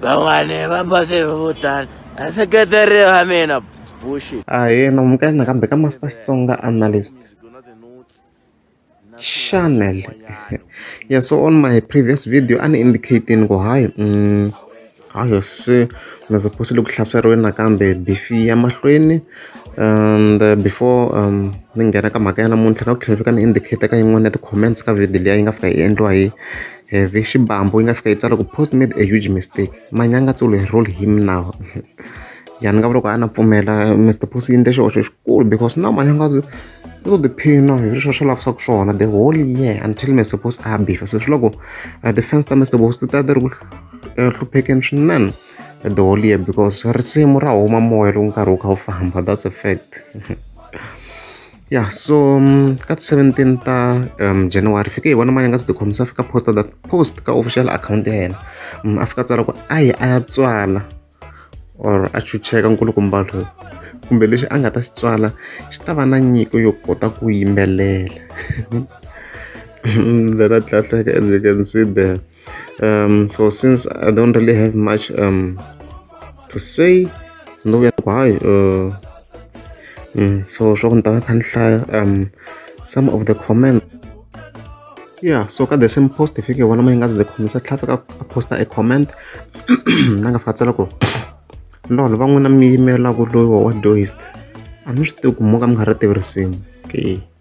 van'wani va base hi vo tala a seketeri va mina bullshit ahee namuka yini nakambe ka master xitsonga analyst channel yeah so on my previous video ani indicating ku hayi mm, hayo se nazaphosi loko hlaseriwe nakambe bifi ya mahlweni and uh, before um ni nghena ka mhaka ya namuntlha na ku tlhela fika ni indicator ka yin'wana ya ti-comments ka video liya yi nga fika yi endliwa hi Heavy xibambu yi nga fika yi tsala ku post made a huge mistake manyanga tsolo he roll him now ya ni nga vula ku a na pfumela Mister Post yi endle xihoxo xikulu because now manyanga u to tiphina hi sweswo swi lavisaka swona the whole year until Mister Post a bifa se swi loko ti-fans ta Mister Post ti ta ti ri ku hluphekeni swinene the whole year because risimu ra huma moya loko nkarhi wu kha wu famba that's a fact. ya so mm, ka ti 17 ta um, january fike hi vona mani a nga si tikhomisa fika posta that post ka official account ya yena mm, a fika tsala ku a yi a ya tswala or a chucheka nkulukumba lowu kumbe lexi a nga ta xi tswala xi ta va na nyiko yo kota ku yimbelela then a tlhatlheka as we can see there um, so since i don't really have much um, to say no ya why uh, mm, so sho ni ta khan hlaya um some of the comment yeah so ka the same post if you want to ngazi the comment sa tlhafa ka post a comment na nga fatsela ko lolo va n'wina mi yimela ku loyi wa doist a mi swi tivi ku mo ka mi nga ri tivi risimu okay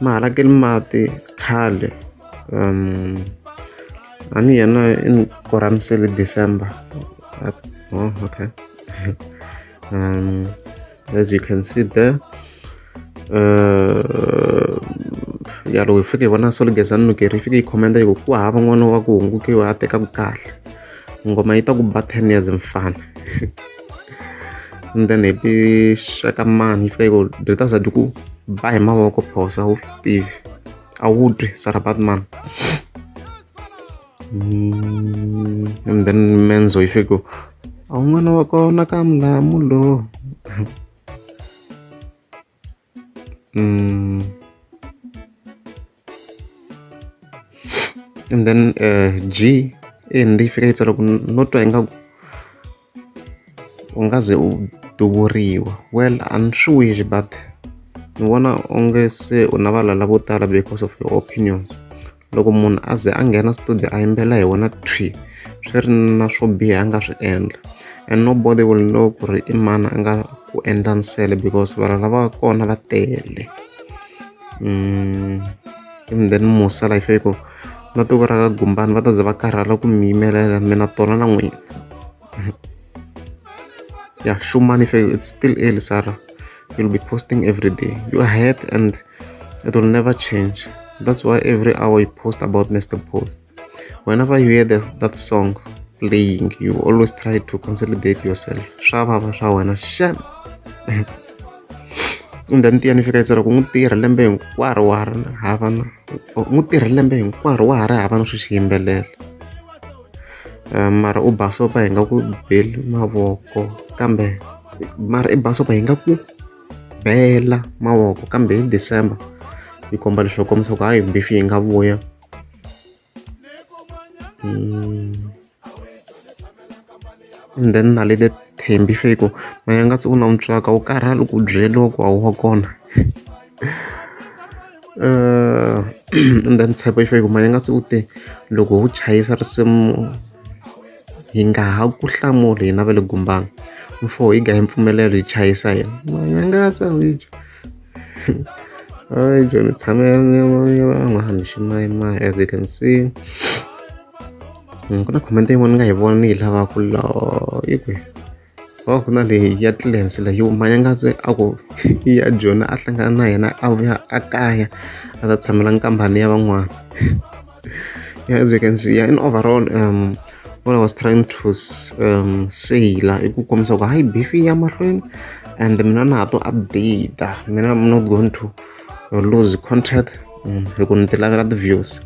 ma halakeli mati khale a ni yena i ni korhamisele December oh okay um, as you can see there uh, ya loko hi fike hi vona solo gezani nukeri yi fike yi khomenda yi ku ku hava n'wana wa ku hungukiwa a tekaku kahle ngoma yi ta ku ba ten years mfana and then hi pixaka mani yi fika yi ku byi ta zati ku ba hi mavoko phosa wu swi tivi a wu twi sarabat man mm, and then menzo yi fika ku a wu n'wana wa kona ka mulamu lowu mm. and then uh, g i hindi yi fika yi tsala ku no twa ingaku u nga ze u duvuriwa well a ni swi wish but ni vona onge se u na valala vo tala because of your opinions loko munhu a ze a nghena studio a yimbelela hi wona thwi swi ri na swo biha a nga swi endla and nobody will know ku ri i mani a nga ku endla nsele because vanhu lava kona va tele mm, even then musa life yi ku na tiko ra ka gumbani va ta ze va karhala ku mi yimelela mina tona na n'wina ya shumani fe it's still early sara you'll be posting every day you are ahead and it will never change that's why every hour you post about mr post whenever you hear that, that song playing you always try to consolidate yourself swa vava swa wena shem ndani tiya ni fika yi tsala ku n'wi tirha lembe hinkwaro wa ha ri hava na n'wi tirha lembe hinkwaro wa ha ri hava na swi xi yimbelela mara u ba sopa hi nga ku beli mavoko kambe mara i ba sopa hi nga ku bela mavoko kambe hi December yi komba leswaku kombisa ku hayi mbifi yi nga vuya mm. And then na le Thembi se ku mehe a nga se u na mutswaka wo karhala loko u byeriwa ku a wu wa kona and then Tshepo i fanele ku mehe a nga se u te loko ho chayisa risimu hi nga ha ku hlamuli hina va le Gombani mfo hi ga hi mpfumelelo hi chayisa hina mehe a nga se u yi dya joni ni tshame ni van'wana ximayimana as you can see. ku na comment yin'wana ni nga yi vona ni yi lava ku la yi kwi oh ku na leyi ya tlilens leyi manyangatse a ku ya jona a hlangana na yena a vuya a kaya a ta tshamela nkambani ya van'wana yeah, as you can see yeah, in overall um, what I was trying to um, say la i ku kombisa ku hayi beef ya mahlweni and mina na ha to update mina i'm not going to lose contact um, hi ku ni ti lavela ti-views